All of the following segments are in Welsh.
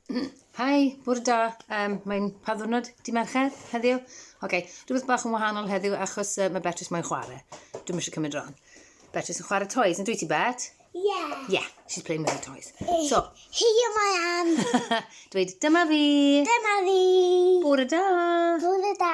Hi, bwr da. Um, mae'n pa ddwrnod? Di Mercher heddiw? Oce, okay. rhywbeth bach yn wahanol heddiw achos uh, mae Beatrice mae'n chwarae. Dwi'n eisiau cymryd ron. Beatrice yn chwarae toys, yn dwi ti Bet? Yeah. Yeah, she's playing with her toys. Eh, so. Here I am. Dweud, dyma fi. Dyma fi. Bwr da. Bwr da.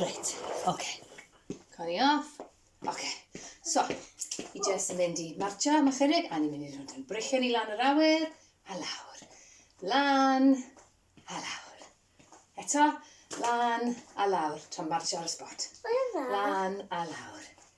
Reit, oce. Coni off. Oce. So, i jyst yn mynd i marcha am ychydig, a ni'n mynd i rhoi yn brechiau ni lan yr awyr, a lawr. Lan, a lawr. Eto, lan, a lawr. Tra'n marcha ar y spot. Lan, a lawr.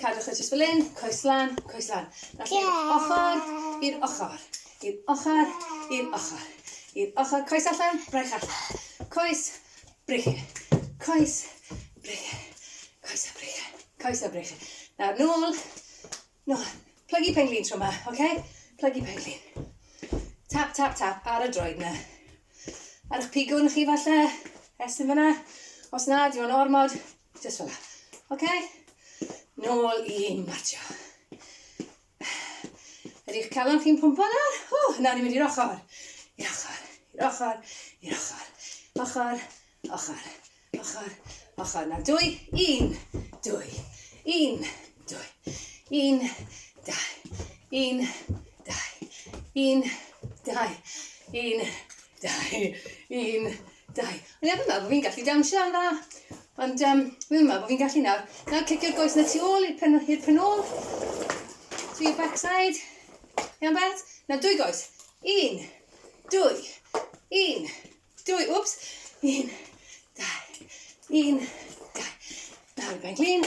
Cadwch e jyst fel 'yn, coes lan, coes lan. Nawr i'r ochor, i'r ochor, i'r ochor, i'r ochor, i'r ochor. Coes allan, braich allan. Coes, braich, coes, braich, coes a braich, coes a braich. Nawr nôl, nôl. Plygu penglin tro yma, oce? Okay? Plygu penglin. Tap, tap, tap ar y droed yna. Ar eich pigwn chi falle, estyn fyna. Os na, diw'n ormod, Just fel la. Ok? Nôl i marcio. Ydy'ch calon chi'n pwmpo nawr? O, nawr ni'n mynd i'r ochr. I'r ochr, i'r ochr, i'r ochr. Ochr, ochr, ochr, ochr. Nawr dwy, un, dwy, un, dwy, un, dau, un, dau, un, dau, un, dau, un, Dau. O'n i arfer meddwl bod fi'n gallu dawnsio yn dda, ond um, fi ddim yn meddwl bod fi'n gallu nawr. Nawr cicio'r goes na tu ôl i'r pen, i'r pen ôl. To your backside. Iawn bet? Na dwy goes. Un, dwy, un, dwy, wps, un, dau, un, dau. Nawr i ben glin,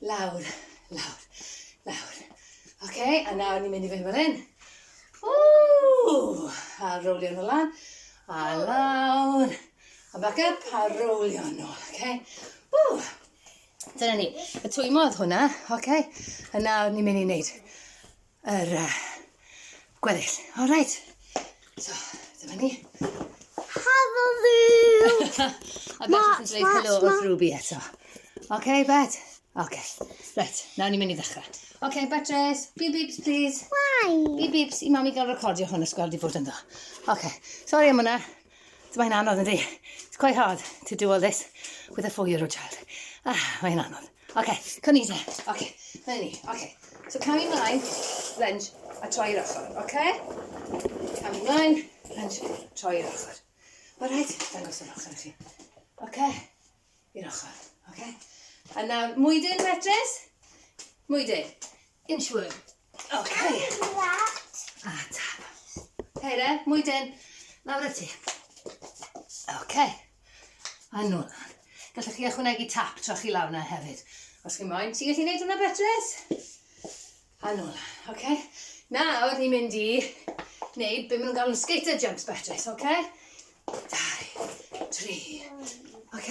Lawr, lawr, lawr. Oce, okay, a nawr ni'n mynd i fynd fel hyn. Ww! A rowlio nhw lan. A lawr. A back up, a rowlio nhw. Oce? Okay? Ww! Dyna ni. Y twymo oedd hwnna. Oce? Okay? A nawr ni'n mynd i wneud yr uh, gweddill. All right. So, dyma ni. Helo Luke! a beth yn dweud helo wrth Ruby eto. Oce, okay, Bet? Oce. Okay. Right, nawr ni'n mynd i ddechrau. Oce, okay, Beatrice, beep beeps, please. Why? Beep beeps, i mami gael recordio hwn os gweld i fod ynddo. Oce, okay. sorry am hwnna. Dyma hi'n anodd ynddi. It's quite hard to do all this with a four-year-old child. Ah, mae'n anodd. Ok, come here then. Ok, dyna ni. Ok, so camu mlaen, lunge, a troi i'r ochr. Ok? Camu mlaen, lunge, troi i'r ochr. Alright, dangos yr ochr i chi. Ok, i'r ochr. Ok? A nawr, mwydyn, Beatrice? Mwydyn. Inchworm. Ok. A tap. Heire, mwy dyn. Lawr y ti. Ok. A nôl lan. Gallwch chi ychwanegu tap tra chi lawr na hefyd. Os chi'n moyn, ti'n gallu gwneud hwnna betres? A nôl lan. Ok. Nawr, ni'n mynd i wneud beth maen nhw'n galw'n skater jumps betres, ok? Dau, tri. Ok.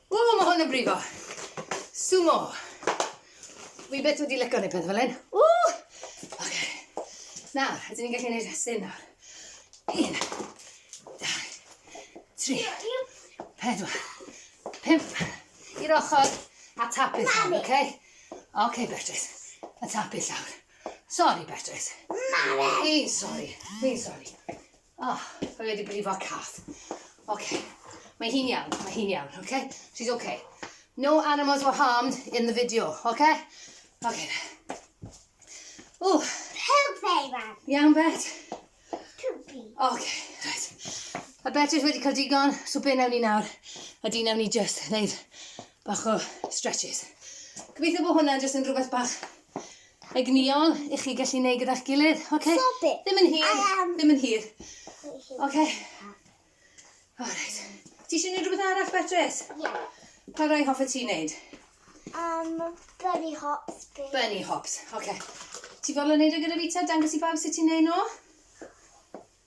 Ww, ma' hwn yn brifo! Sumo! Wi byth wedi licio neud peth fel hyn. Ww! Oce. Nawr, ydyn ni'n gallu neud rhestyn nawr? Un, dau, tri, pedwar, pump, i'r ochr, a tapu llawr, oce? Oce, Bertris, a tapu llawr. Sori, Bertris. Mami! Fi'n sori, fi'n sori. O, oh, mae wedi brifo cath. Oce, okay. mae hi'n iawn, mae hi'n iawn, oce? Okay? She's oce. Okay. No animals were harmed in the video, oce? Okay? Oce. Okay. O! Oh. Help very much. Iawn, Bet? Tupi. Oce, okay, right. A Bet is wedi cael digon, so be nawn ni nawr? A di nawn ni just wneud bach o stretches. Gobeithio bod hwnna jyst yn rhywbeth bach Egnïol i chi gallu neud gyda'ch gilydd. Okay. Stop it. Ddim yn hir. I am. Ddim yn hir. Okay. Alright. Ti eisiau neud rhywbeth arall, Beatrice? Yeah. Pa rai hoffe ti neud? Um, bunny hops. Please. Bunny hops. Okay. Ti fodlon neud o gyda fi ta? Dangos i bawb sut ti'n neud nhw?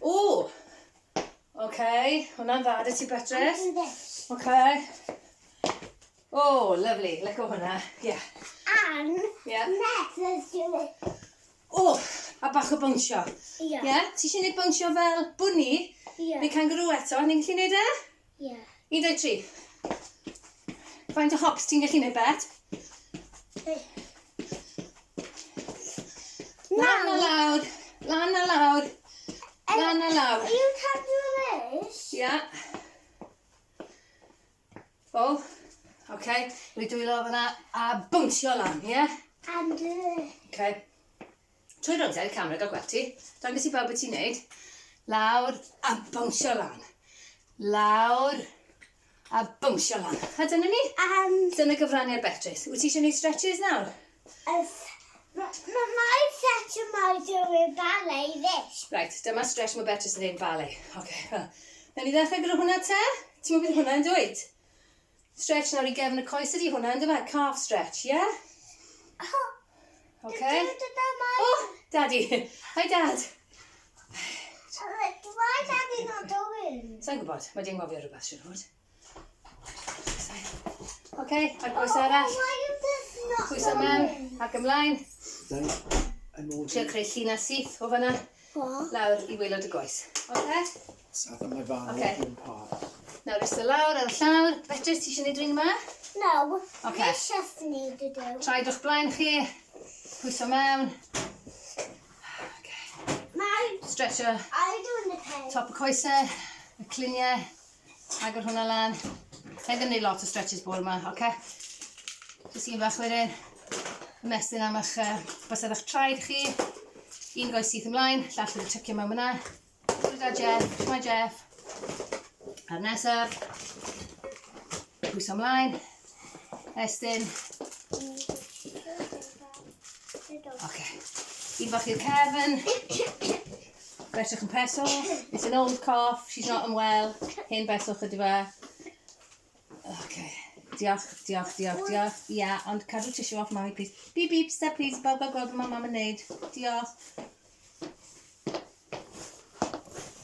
O! Oce, hwnna'n dda, dys ti Beatrice. Oce. O, lovely, let go hwnna, ie. Yeah. And yeah. let's do it. O, a bach o bwnsio. Ie. Yeah. Yeah? Ti eisiau gwneud bwnsio fel bwni? Ie. Yeah. Neu kangaroo eto, ni'n gallu gwneud e? Ie. 13. Faint o hops ti'n gallu neud bet? Lan a lawr, lan a lawr, lan a lawr. Are you counting this? Yeah. Full. Okay, rwy dwylo fyna a bwnsio lan, ie? Yeah? And... Uh... Okay. Trwy roddiad y camera, gad gweld ti. Dangos i bawb beth ti'n neud. Lawr a bownsio lan. Lawr a bownsio lan. A dyna ni. Um, dyna gyfraniad Beatrice. Wyt ti eisiau gwneud stretches nawr? Ys. Mae mae stretch yma i dyw'r ballet this. Right, dyma stretch mae Beatrice yn neud ballet. Oce, okay, wel. Nawn ni ddechrau gyda hwnna te? Ti'n meddwl bydd hwnna yn dweud? Stretch nawr i gefn y coes ydi hwnna yndyfe? Calf stretch, ie? Oce. Okay. O, Daddy. Hi, Dad. Why is Daddy not doing? Sa'n gwybod, mae di'n gofio rhywbeth, siwr fod. Oce, a'r coes oh, arall. Pwyso mewn ac ymlaen. Trio creu llinell syth o fanna. Lawr i waelod y goes. Oce? So I think fan okay. yn pwrs. Nawr ista lawr ar y llawr. Fetris, ti eisiau gwneud rhywun yma? No. Okay. Nes eisiau gwneud y dew. Traed o'ch blaen chi. Pwyso mewn. Okay. Mae... Stretcher. I do in the pen. Top y coesau. Y cliniau. Agor hwnna lan. Sa'n ddim neud lot o stretches bore yma, oce? Okay? Jyst un bach wedyn. Ymestyn am eich uh, bysedd eich traed chi. Un goes syth ymlaen, llall wedi tycio mewn yna. Twy'r da Jeff, twy'r Jeff. A'r nesaf. Pwyso ymlaen. Estyn. Oce. Okay. Un bach i'r cefn. Fedrwch yn pres off. It's an old cough, she's not unwell. Hen beswch ydy fe. OK. Diolch, diolch, diolch, diolch. Ia, yeah, ond cadw tissue off mami, please. Beep, beep, step, please. Bawb a gweld beth mae mam yn neud. Diolch.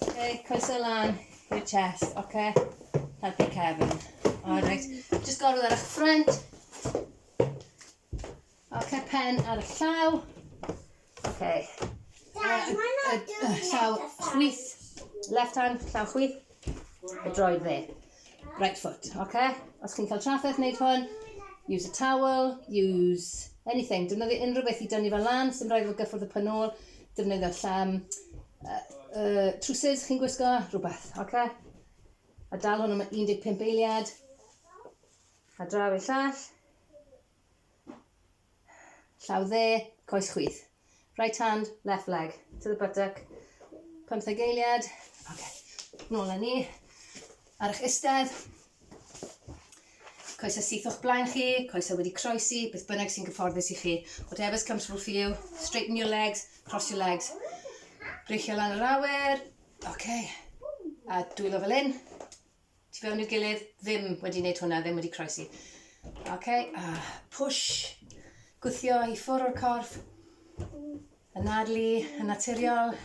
OK, coesau lan i'r chest, OK? Helpu Kevin. Alright. Just gorwyd ar eich ffrant. Ok, pen ar y llaw. Ok. Dad, mae'n not doing the exercise. Llaw chwith. Left hand, llaw chwith. Y droed dde. Right foot, ok? Os chi'n cael trafferth wneud hwn, use a towel, use anything. Defnyddio unrhyw beth i dynnu fel lan, sy'n rhaid fod gyffwrdd y pen ôl. Defnyddio llam, uh, uh, trwsus chi'n gwisgo, rhywbeth, ok? A dal hwn am 15 eiliad. A draw i'r llall. Llaw dde, coes chwith. Right hand, left leg. To the buttock. Pymtheg eiliad. Ok. Nôl â ni. Ar eich istedd. Coesau syth o'ch blaen chi, coesau wedi croesi, beth bynnag sy'n gyfforddus i chi. Whatever's comfortable for you. Straighten your legs, cross your legs. Breichio lan yr awyr. Ok. A dwylo fel un. tu fewn i'r gilydd, ddim wedi wneud hwnna, ddim wedi croesi. Ok, a push, gwthio i ffwr o'r corff, y nadlu, y naturiol.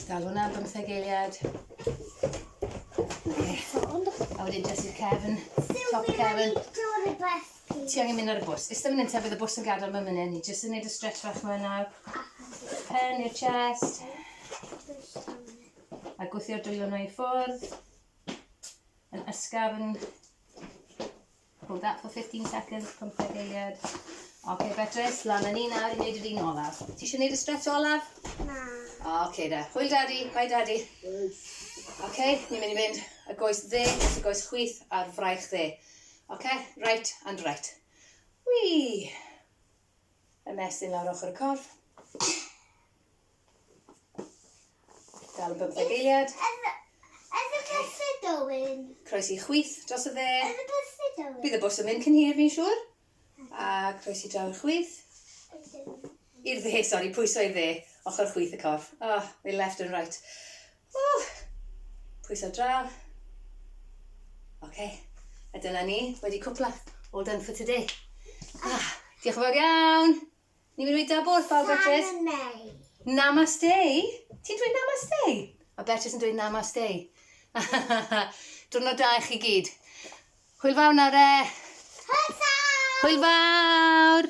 Dal hwnna am bymtheg eiliad. Okay. A wedyn jyst i'r cefn, top y cefn. Ti angen mynd ar y bws. Ystod mynd ta bydd y bws yn gadael mewn munud. Ni jyst yn gwneud y stretch fach yma nawr. Pen i'r chest. a gwthio'r dwylo na i ffwrdd yn ysgafn hold that for 15 seconds 15 eiliad ok Beatrice lan yn ni nawr i wneud yr un olaf ti eisiau wneud y stretch olaf? na ok da hwyl daddy bye daddy ok ni'n mynd i fynd y goes dde y goes chwith a'r fraich dde ok right and right wii y mesyn lawr ochr y corff Dal y bymtheg eiliad. Yn y bus y dywyn. Croes i chwith dros y dde. Yn y bus y dywyn. Bydd y bws yn mynd cyn hir, fi'n siŵr. A croes i draw'r chwith. I'r dde, sori, pwyso i'r dde. Ochr chwith y corff. Oh, they left and right. Oh, pwyso draw. Oce, okay. a dyna ni, wedi cwpla. All done for today. Ah, diolch yn fawr iawn. Ni'n mynd i weud dabwr wrth bawb, Beatrice. Namaste. Namaste. Ti'n dweud namaste? Mae Beatrice yn dweud namaste. Diwrnod da i chi gyd. Hwyl fawr nawr e. Hwyl fawr. Hwyl fawr.